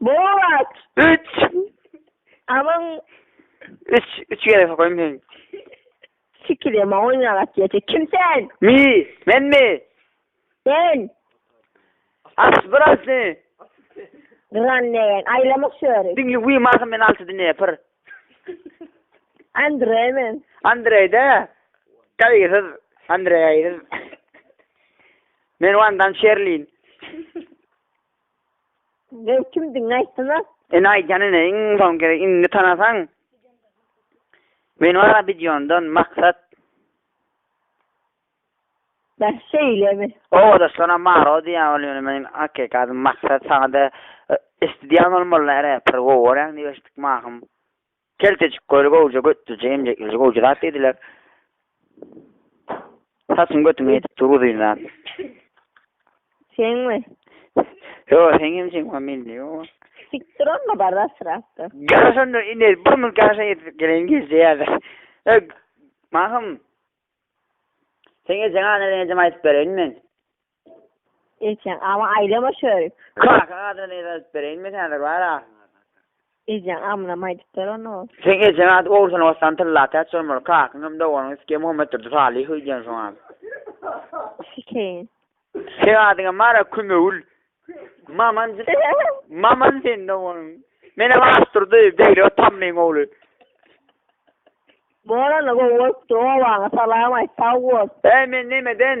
Bolat. Üç. Aman. Üç. Üç kere sokaýyn men. Sikir ýama oýnaga atýaja. Kim sen? Mi? Men mi? Sen. Aç biraz ne? Gran degen. Aýlamak şöri. Diňli wi marka men altı dine pir. Andre men. Andreyde. Gaýgysyz. Andrey gaýgysyz. Men Wandan Şerlin. Men kimdigiňi aýtsana. Ene aýdýan ene iň soň gerek indi tanasaň. Men wara Bidiondan Maksat. Bäh şeýlemi. Obadaşlaram Maro diýýär ol ýöne meniň hakyky adym Maksat saňada Esti diýen bolmalylar räper gowy bolýaň diýip eşitdik mahym. Keltejik köli gowja götdüje emjekleje gowja zat diýdiler. Saçyň götüňe ýetip dur uzyn zat. Seňmi? Ýo, seňem jeňwa mende ýo. Sikdir onda bar daşrakda. Gel şonda indi bir mülki aşa ýetip geleýin gije ýa-da. E, Mahym. Seň ejeň aňa ejeň aýdyp bereýin men. Ejeň, Aman, aýlama şörik. Kaka, Adyny yza alyp bereýin men häzir, bar a. Ejeň, Amynam aýdypdyr ony ol. Seň ejeň ady Ogulhan Ostan Tylla Täç bolmaly, kakyň hem doganyň Isge Muhammetdurdy Salyhow diýen şoň a. Hüseýin. Seň adyňam bar a Kümewül. Maman, Maman seň doganyň. Menem Aşdurdy, Beglek Tamlyň ogly. Bor onda, gowy bolupdyr, obaňa salam aýt, sag bol. Äý, men nemeden?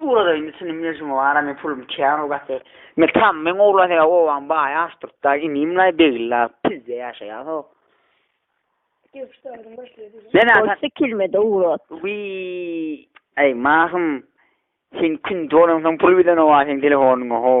Ugradayyn düşündim mejnun ara men pulum kän o gaty. Metam meň ogla he obaň baýy Aşturkda inimlaý begilla pizde ýaşaýaso. Bolsa kelmede ugrat. Wiý. Aý mahym. Sen kündi bolansoň pul bilen oba seň telefonyňa how.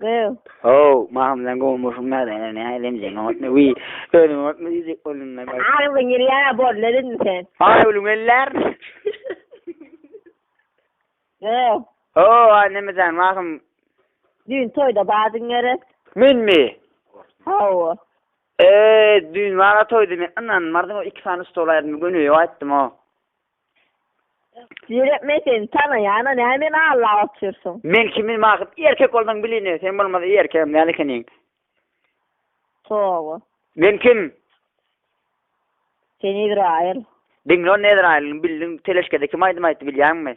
Gyz. How, mahym sen gowy muşum näde ene ne lemjeň otny wi özüň otny diýjek boldum men. Aýulyň ýyllara bor ne dedin sen. Aýulyň ýyllar. Gyz. How, aý neme jan mahym. Düýn toýda bardyň gerek. Menmi? Hawa. Eee düýn bar-a toýda men ynanmardyň o iki sany stol aýyrdymy göni ýok aýtdym o. Ýöne men seni tanaýan-a, näme meni allap otyrsyň? Men kimin bakyp, erkek bolsaň bil indi, sen bolmasa erkegem däl ekeniň. Toba. Men kim? Sen Ezraýyl. Diňle onda Ezraýylyň bildiň teleşkede kim aýdym aýtdy bilýäňmi?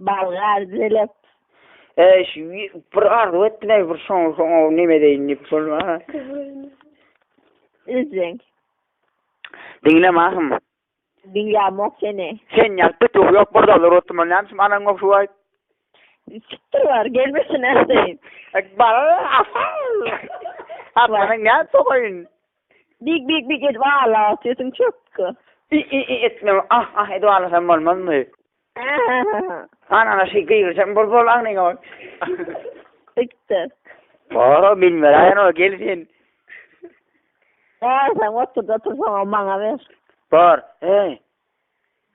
Balga düzelip, bir arzuw etdiler, bir şoňa soň ow neme edeýin diýip bolmana. Üzüň. Diňle mahym. Diňlämok seni. Sen ýalyp bir tuh ýok, bir dollar otyrman, näme üçin anaň ýok şu aýt. Siktir bar, gelmesin ähleýin. Bala, asa. Atmanyň näme sogaýyn. Big big big edip agla sesiň çökgi. I i i etmem ah ah edip aglasam bolmazmy. Hany ana şeý gygyrsam bol bol agnyňa bak. Bitti. Boro bilmeräýen ol gel sen. Bor sen oturda otursaňam maňa ber. Bor eý.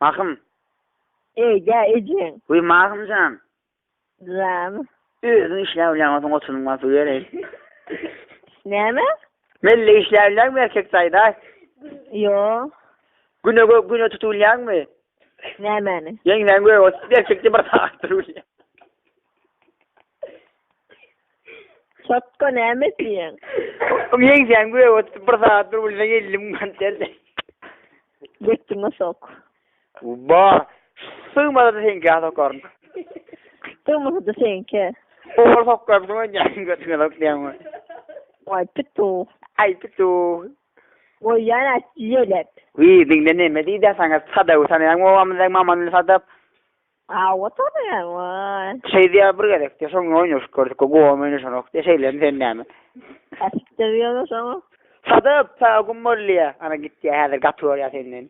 Mahym. Eý gä ejeň. Wiý Mahymjan. Name? Özüň işläp bilýäň bolsaň oturyň basyp ýöreý. Näme? Melle işläp bilýäňmi erkek taýda? Ýo. Güne gö güne tutup bilýäňmi? Nämäni? Ýeňsäň gö oturyp erkekde bir sagat durup bilýäň. Çotga näme diýýäň? Ýeňsäň gö oturyp bir sagat durup bilseň elli müň manat berjek. Götüňe sok. Ba, sygmasa-da seňkä sokaryn. Sygmasa-da seňkä. Owal sokar, soň ýaňy götüňe sok diýäňmi? Waý, pituw. Aý, pituw. Goýýan at ýelep. Wiý, diňle näme diýdä saňa, sadaby tanaýaňmy obamyzdaky Mamanyly sadap? Hawa, tanaýan, waý. Şeý diýýä bir gezek diýýä, şoň bilen oýnaşyp gördük, gowam oýnaşanok diýýä, şeýlemi sen näme? Äsik-de diýýäň-ä şoňa. Sadap, saga güm bol diýýä, ana git diýýä, häzir gaty görýä senden.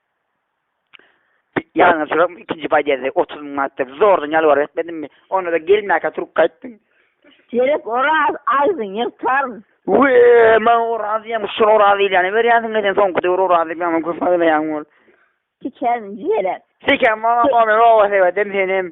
Ýalňyşyram, ikinji podýezde otuz müň manat berip, zordan ýalbaryp etmedimmi? Onda-da gelmäkä turup gaýtdyň. Gerek Oraz aýdyn ýyrtaryn. Wee, maňa Oraz diýýäňmi, şol Oraz diýilýäne berýänsiň eken, soňky döwür Oraz diýip ýaman köp aýlaýaň ol. Tikärin jigerek. Tikäm bolan bolmyň obasy, eýwedem senem.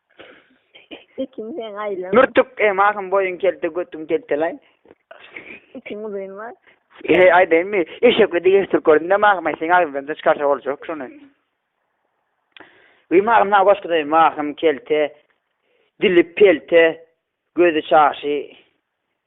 Ekin sen aýlan. Mürtük em ahym boýuň kelte götüň keltelaý. Ekin uzyn bar. Ehe aýdaýynmy? Eşekli diýip eşitdirip gördüm de mahym aý seň agzyňdan da çykarsa boljak şony. Wi mahym sana goşgy daýy mahym kelte dili pelte gözi çaşy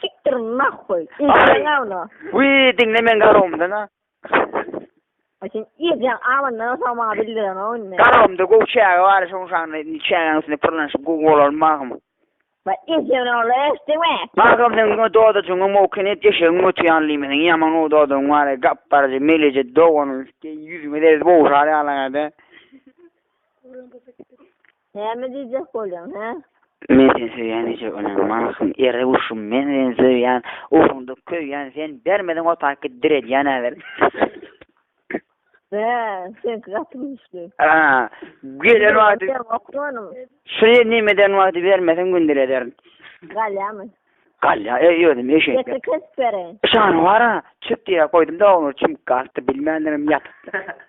Siktir nahwy. Ejeň awna. Wi diňle men garowumda na. Ay sen ejeň awna olsa maňa bildiren o indi. Garowumda gowy çäge bar şoň şanly indi çägäň üstünde pyrlanyşyp gowy bolar magym. Ba ejeň ogly eşdiňmi? Magym sen o dodajyňy mowken et eşegiň göti ýaly diýme seň ýaman o dodagyň bar gap barja meleje doganyň üsti ýüzüňe deriz bowşar ýaly aýda. Näme diýjek bolýaň, hä? Men seni söýýän eje bolan mahym ere guşum men seni söýýän ugruňda köýýän sen bermeseň otaky diredýänä ber. Bä, seňki gaty güýçli. A, gelen wagty Sen okmanam. Şuny neme eden wagty bermeseň gündir ederin. Galýamy? Galýa, e, özüm eşek. Getir kesip bereýin. Şany bara, çüp diýä goýdum-da oňa çümüp galdy bilmändirim ýatypdyr.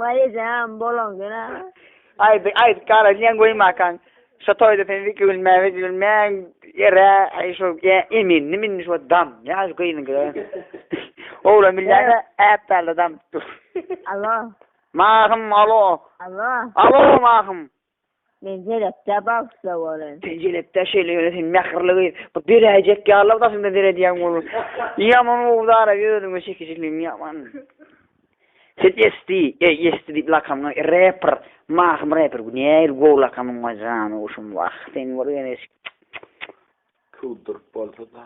Wai ejeem bolaň ýöne. Aýdyň aýdyp gala diýen goýmakaň şo toýda sen iki bilmän üç bilmän ýere aý şo emindim indi şo dam ýa şu gyzyňkydan oglan bilýäňä äpdäldä dam tutduk. Alo. Mahym alo. Alo. Alo Mahym. Men jelekdä bagyşla bolyn. Sen jelekdä şeýle ýöne sen mähirli gyz. Bu beräýjek ýalylar daşynda seredýäň onuň. Ýaman obdaraý özüňe çekijiligiň ýaman. Sen Esti, eý Esti diýip lakamyňa reper, Mahym reper bu nähili gowy lakamyňa janyguşym wah sen bir ýöne. Kowduryp bolsada.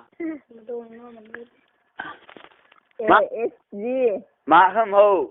Mahym how.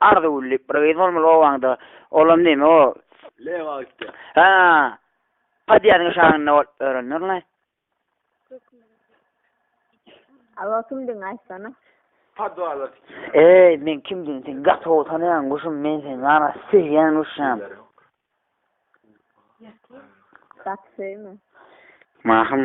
Arzu gülli bir gyz bolmaly owaňda. Olam neme o. Lewa gitdi. Ha. Padýazyň şaňynda bolup örendir la. Alo kimdigiňi aýtsana. Padwala git. Eý men kimdigini sen gaty gowy tanaýaň guşum men seni gana söýýän guşjam. Gaty söýme. Mahym.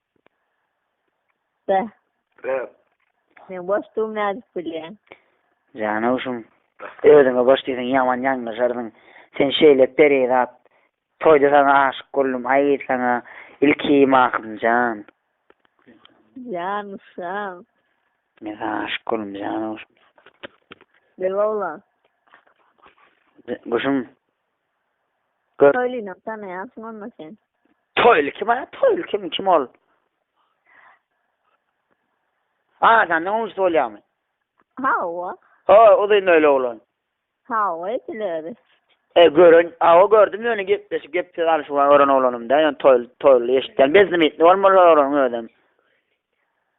Be. Be. Men boşdugym nädip bilýäň? Janawşym, özüňe boş diýseň ýaman ýalňyşarsyň. Sen şeýle perizat. Toýda saňa aşyk boldum. Aý saňa ilki Mahym jan. Janawşym. Men saňa aşyk boldum janawşym. Be oglan. Guşum. Gör. Toýlyny tanaýansyň onda sen. Toýly kim a? Toýly kim? Kim ol? Adamdan ujsy bolýamy? Hawa. Ho, uzyn öýli oglan. Hawa, edil özi. E, gören, awa gördüm ýöne gepleşip gep söz alyşyp gören oglanymda, ýöne toýly, toýly eşitdim. Beznimitni bolmaly ol oglanyň özem.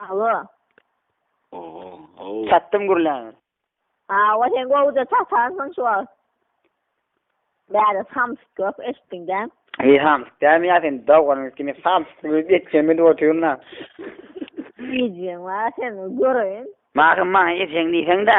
Alo. Oho, ow. Çatdym gürläňe. Hawa, sen gowja çatarsyň şu wagt. Bäri samsyk ýok, eşitdiň dä? Eý, samsyk dämi ýa sen doganyňyz kimi samsyk bolup ýetişem edip otyryň-a. Ejeň bar seniň, göreýin. Magtym maňa ejeň diýseň-dä.